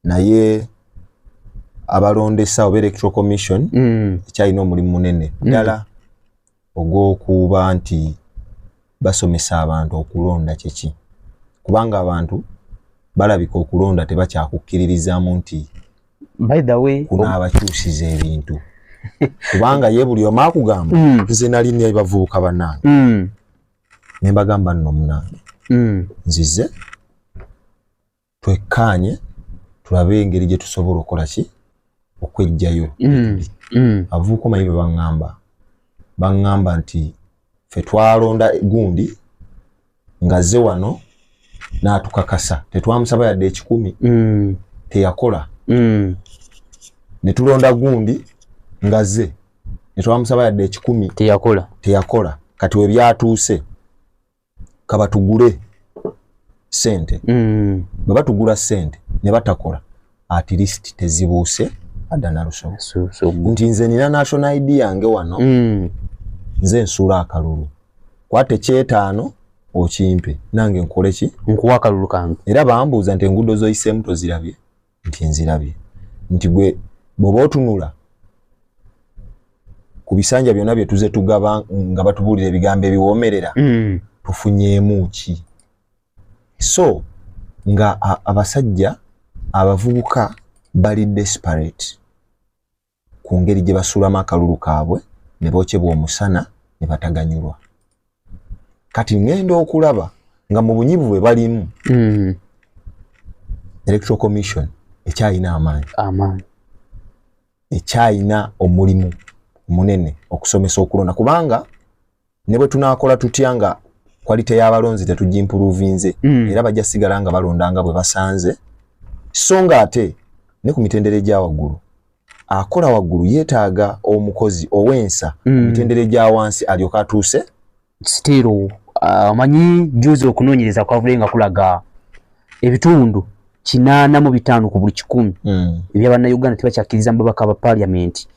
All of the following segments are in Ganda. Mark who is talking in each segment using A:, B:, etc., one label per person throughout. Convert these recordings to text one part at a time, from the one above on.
A: naye abalondesa oba electoral commission mm. ekyalina omulimu munene mm. ddala mm. ogw'okuba nti basomesa abantu okulonda kyeki kubanga abantu balabika okulonda tebakyakukkiririzaamu nti
B: kuno abakyusiza
A: ebintu kubanga ye buli omu akugamba mm. nze nali nebavubuka banange mm. ne mbagamba nno munange mm. nzize twekkaanye tulabe engeri gye tusobola okukola ki okwejjayo mm, mm. abavubuka omanyi be baŋŋamba baŋŋamba nti fe twalonda gundi ng'azze wano n'atukakasa tetwamusaba yadde ekikumi mm. teyakola ne tulonda gundi ng'azze ne twamusaba yadde ekikumi teyakola teyakola kati we byatuuse kabatugule sente mm. bwe batugula sente ne batakola at least tezibuuse adda nalusoma nti nze nina national id yange wano mm. nze nsuula akalulu kwata ekyetaano okimpe nange nkoleki nkuwa akalulu kange
B: era bambuuza nti enguudo
A: zoyiseemu tozirabye nti nzirabye nti gwe bwoba otunula ku bisanja byonna bye tuze tugaba nga batubuulira ebigambo ebiwoomerera mm. tufunyeemu ki so nga abasajja abavubuka bali desperate ku ngeri gye basuulamu akalulu kaabwe ne bookyebwa omusana ne bataganyulwa kati ŋŋenda okulaba nga mu bunyivu bwe balimu mm. electoral commission ekyalina amaanyi ekyalina omulimu munene okusomesa okulonda kubanga ne bwe tunaakola tutya nga kwalite y'abalonzi tetugimpuluvinze mm. era bajja sigala nga balonda nga bwe basanze so nga ate ne ku mitendera egya waggulu akola waggulu yeetaaga omukozi ow'ensa mm. mitendera egya wansi alyoka atuuse sitiiro
B: ah, omanyi uh, juzi okunoonyereza kwavule nga kulaga ebitundu kinaana mu bitaano ku buli kikumi mm. ebya bannayuganda tebakyakkiriza mu babaka ba paliamenti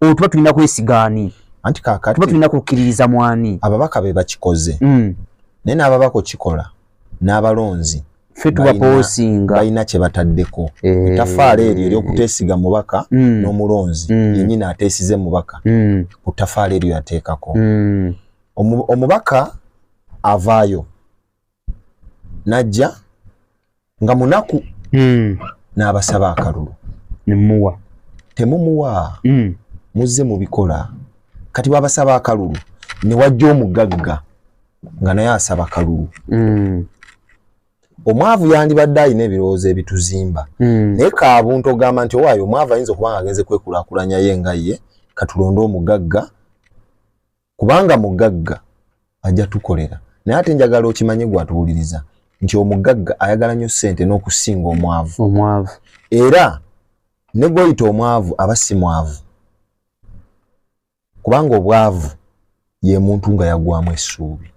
B: oyo tuba tulina kwesiga ani anti kakati tuba
A: tulina kukkiririza
B: mwani ababaka be bakikoze
A: mm. naye n'ababaka okikola n'abalonzi ffe
B: tubapoosinga balina kye bataddeko
A: eh. etafaala eryo eryokuteesiga mubaka mm. n'omulonzi mm. yenyini ateesize mubaka mm. ku ttafaala eryo yateekako mm. omubaka avaayo najja nga munaku mm. n'abasaba akalulu nemuwa
B: temumuwa
A: mm. muzze mubikola kati wabasaba akalulu newajja omugagga nga naye asaba kalulu mm. omwavu yandibadde alina ebirowoozo ebituzimba mm. naye kabuntu ogamba nti owaayo omwavu ayinza okuba nga agenze kwekulakulanya ye nga ye katulonde omugagga kubanga mugagga ajja tukolera naye ate njagala okimanye gwatuwuliriza nti omugagga ayagala nnyo ssente n'okusinga omwavu omwavu era ne gwoyita omwavu aba si mwavu kubanga obwavu ye muntu nga yagwamu essuubi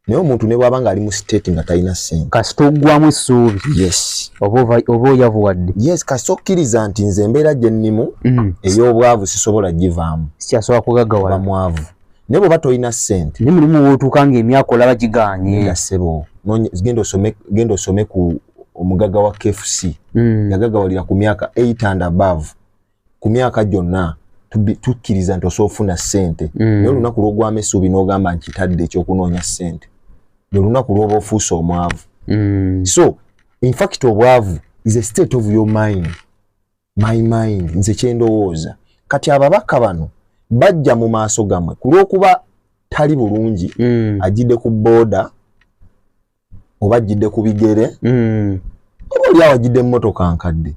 A: naye omuntu ne bwaba ng'ali mu state nga talina sente kasita oggwamu essuubi
B: yes
A: oba
B: oyavuwadde yes kasita okkiriza
A: nti nze embeera gye nnimu mm. ey'obwavu sisobola givaamu sikyasobola kugagawala
B: mwavu naye
A: bweoba tolina sente naye mulimu wootuuka
B: ng'emyaka olaba giganye nga ssebo
A: genda osome ku omugaga wa kfc mm. yagagawalira ku myaka 8 and above ku myaka gyonna tukkiriza nti osobola ofuna ssente mm. naye olunaku lwogwamu essuubi n'ogamba nkitadde ekyokunoonya ssente lwe lunaku lwoba ofuuse omwavu mm. so infact obwavu is a state of your mind my mind nze kyendowooza kati ababaka bano bajja mu maaso gamwe ku lwokuba tali bulungi mm. ajjidde ku booda oba ajjidde ku bigere mm. oba oli awo ajjidde mmotoka nkadde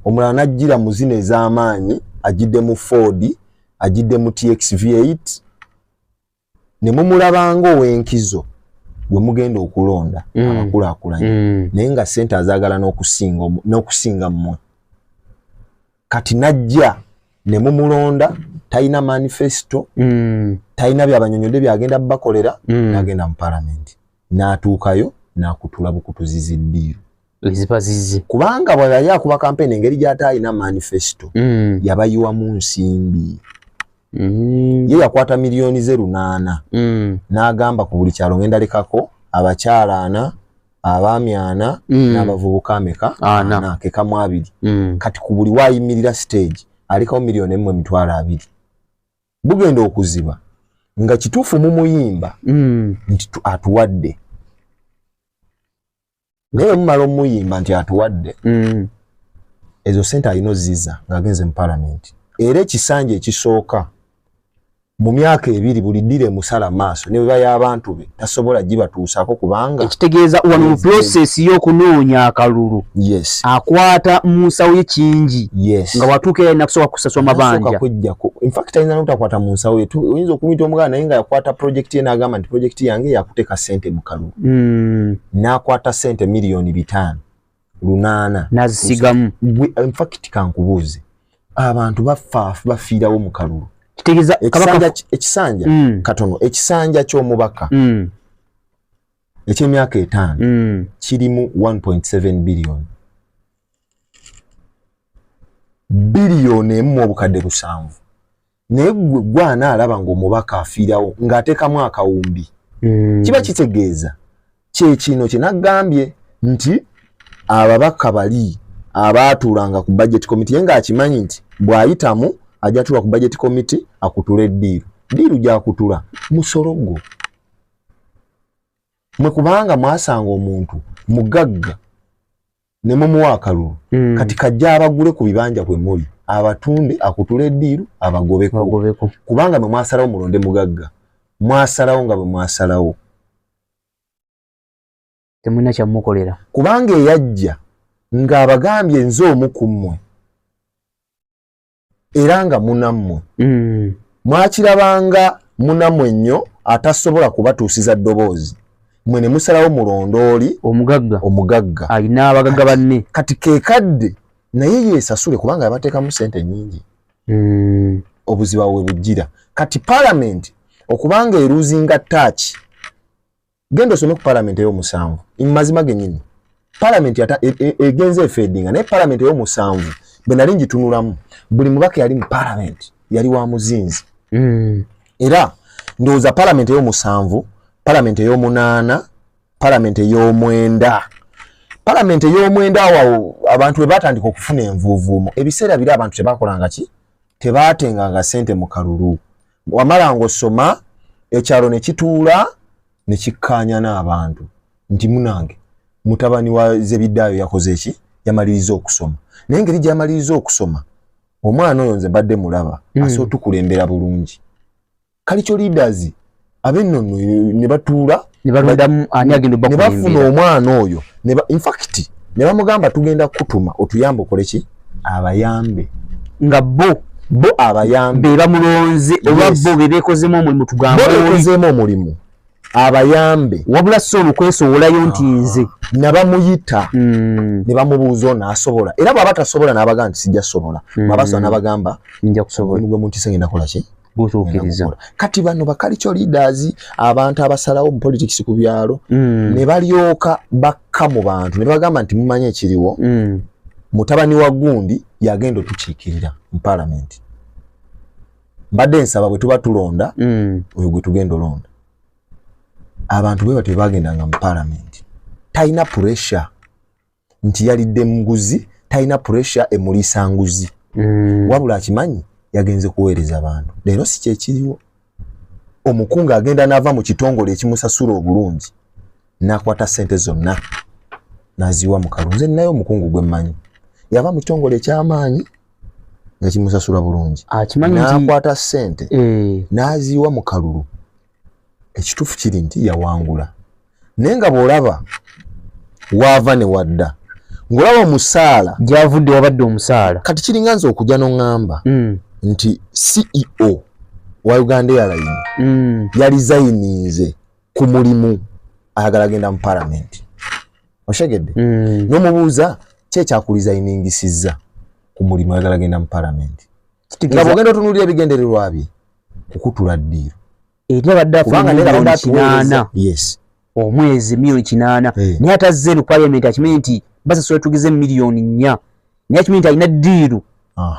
A: omulala n'ajjira mu zino ez'amaanyi ajjidde mu ford ajjidde mu txv 8 ne mumulabanga ow'enkizo gwe mugenda okulonda mm. abakulaakulanye mm. naye nga ssente azaagala n'okusinga mmwe kati n'ajja ne mumulonda talina manifesto mm. talina byabanyonyodde byagenda bakolera mm. nagenda mu palamenti n'atuukayo n'akutula bukutuzizi ddiiru ezibazize
B: kubanga bwe yali
A: akuba kampeyini engeri gy'ate alina manifesito mm. yabayiwamu nsimbi mm. ye yakwata miliyoni ze lunaana mm. n'agamba ku buli kyalo ngenda lekako abakyala ana abaami ana mm. n'abavubuka ameka ana kekamu abiri mm. kati ku buli waayimirira siteegi alekawo miliyoni emu emitwalo abiri bugenda okuziba nga kituufu mumuyimba mm. nti atuwadde naye mumala omuyimba nti atuwadde mm. ezo sente alina oziza ngaagenze mu palamenti era ekisanja ekisooka mu myaka ebiri buli ddira emusala maaso ne beba y'abantu be tasobola gibatuusako kubanga ekitegeeza wano mu
B: process y'okunoonya akalulu yes. akwata mu nsawo ye kingi yes. nga watuuka era nakusooka kusaswa mabanja kujjako infact ayinza
A: notakwata mu nsawo ye oyinza okumuyita omuganda naye nga yakwata project ye n'agamba nti project yange yakuteeka sente mu kalulu mm. n'akwata sente miliyoni bitaano lunaana nazisigamu
B: gwe in fact
A: kankubuuze abantu bafa bafiirawo mu kalulu kitegeeza kabaka
B: ekisanja
A: mm. katono ekisanja ky'omubaka mm. eky'emyaka etaano mm. kirimu 1.7 billion billion emu obukadde lusanvu naye gwe gwana alaba ng'omubaka afiirawo ng'atekamu akawumbi mm. kiba kitegeeza kyekino kyenagambye nti ababaka bali abaatuulanga ku budget committee ye ng'akimanyi nti bw'ayitamu ajja tuula ku budget committee akutula eddiiru ddiiru gyakutula musolo gwo mwe kubanga mwasanga omuntu mugagga ne mumuwa akalulu mm. kati kajja abagule ku bibanja kwe muli abatunde akutule eddiiru abagobeko kubanga bwe mwasalawo mulonde mugagga mwasalawo nga bwe mwasalawo
B: temulina kyamukolera kubanga eyajja
A: ng'abagambye nze omu ku mmwe era nga munammwe mm. mwakirabanga munammwe nnyo atasobola kubatuusiza ddoboozi mwe ne musalawo mulondooli omugagga omugagga alina abagagga
B: banne kati kekadde
A: naye yesasule kubanga yabateekamu sente nyingi mm. obuziba we bujjira kati palamenti okubanga eruuzinga taaki genda osome ku parliament eyomusanvu mazima genyini parliament yata e, e, egenze efedinga naye parliament eyomusanvu bwenali njitunulamu buli mubaka yali mu parliament yali wa muzinzi mm. era ndowooza parliament eyomusanvu parliament eyomunaana parliament eyomwenda parliament eyomwenda wawo abantu webatandika okufuna envuuvuumo ebiseera biri abantu tebakolanga ki tebatenganga sente mu kalulu wamala ng'osoma ekyalo ne kituula ne kikkaanya n'abantu nti munange mutabani wa zebiddaayo yakoze ki yamaliriza okusoma naye engeri gyamaliriza okusoma omwana oyo nze mbadde mulaba mm. ase otukulembera bulungi kalico leaders abennono ne batuula nebalondamu ani
B: agenda oba nebafuna omwana
A: oyo infact nebamugamba tugenda kutuma otuyambe okole ki abayambe nga bo
B: bo abayambe
A: bebamulonze
B: oba bo bebekozemu omulimu tugambebekozemu omulimu
A: abayambe wabula si
B: olukwesowolayo nti ah. nze nabamuyita
A: hmm. nebamubuuza ono asobola era bwaba tasobola nabagaa nti sijja sobola hmm. bwaba sobola nabagamba njakusobola mugwe
B: munti sengenda kolaki
A: gutuukiriza
B: kati bano
A: bakalico leaders abantu abasalawo mu politics ku byalo mm. ne balyoka bakka mu bantu ne bagamba nti mumanye ekiriwo mm. mutabani wa gundi yagenda otukiikirira mu palamenti mbadde nsaba bwe tuba tulonda mm. oyo gwe tugenda olonda abantu bwe batyo bagendanga mu palamenti talina pressure nti yalidde muguzi talina pressure emuliisa nguzi mm. wabula akimanyi yagenze kuweereza abantu leero si kyekiriwo omukungu agenda naava mu kitongole ekimusasula obulungi nakwata sente zonna naziwa mukalu nze naye omukungu gwe mmanyi yava mu kitongole ekyamaanyi nga kimusasula bulungi nakwata sente eh. naziwa mukalulu ekituufu kiri nti yawangula naye nga bw'olaba waava ne wadda ng'olaba omusaala gyavudde wabadde
B: omusaala kati kiringa nze okujja
A: n'oŋŋamba mm. nti ceo wa uganda airline mm. yalizayininze ku mulimu ayagala agenda mu palamenti oshegedde mm. n'omubuuza kyekyakulizayiningisizza ku mulimu ayagala agenda mu palamenti nga bwogenda otunuulira ebigendererwa bye kukutula ddiiro eri
B: abadde afunamiliyoni kinaana
A: omwezi miliyoni
B: kinaana eh. naye atazze eno paliamenti akimanyi nti basasula tugize miliyoni nnya naye akimanyi nti alina diiru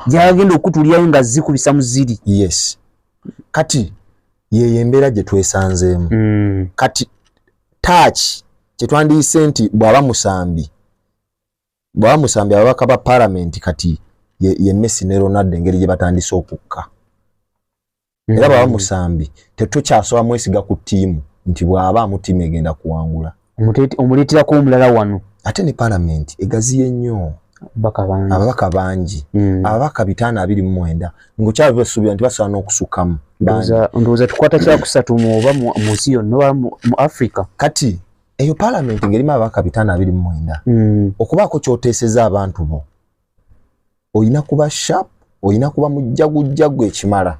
B: gyagenda okutulyayo nga zikubisa mu ziri yes
A: kati yeyo embeera gye twesanzeemu mm. kati taaki kyetwandiyise nti bwaba musambi bwaba musambi ababaka ba paramenti kati ye, ye messi ne ronaldo engeri gye batandise okukka era hmm. baba musambi tetukyasoba mwesiga ku tiimu nti bwaba amutiimu egenda kuwangula omuleeterako
B: omulala wano ate ne palamenti
A: egaziye nnyo ababaka bangi hmm. ababaka bitaano abiri mu mwenda ngaokyaba basuubira nti basobola n'okusukamu ndowooza
B: tukwata kyakusatu mu oba mu nsi yonna oba mu africa kati
A: eyo palamenti ngerimu ababaka bitaano abiri mu mwenda hmm. okubaako kyoteeseza abantu bo olina kuba sharp olina kuba mujjagujjagu ekimala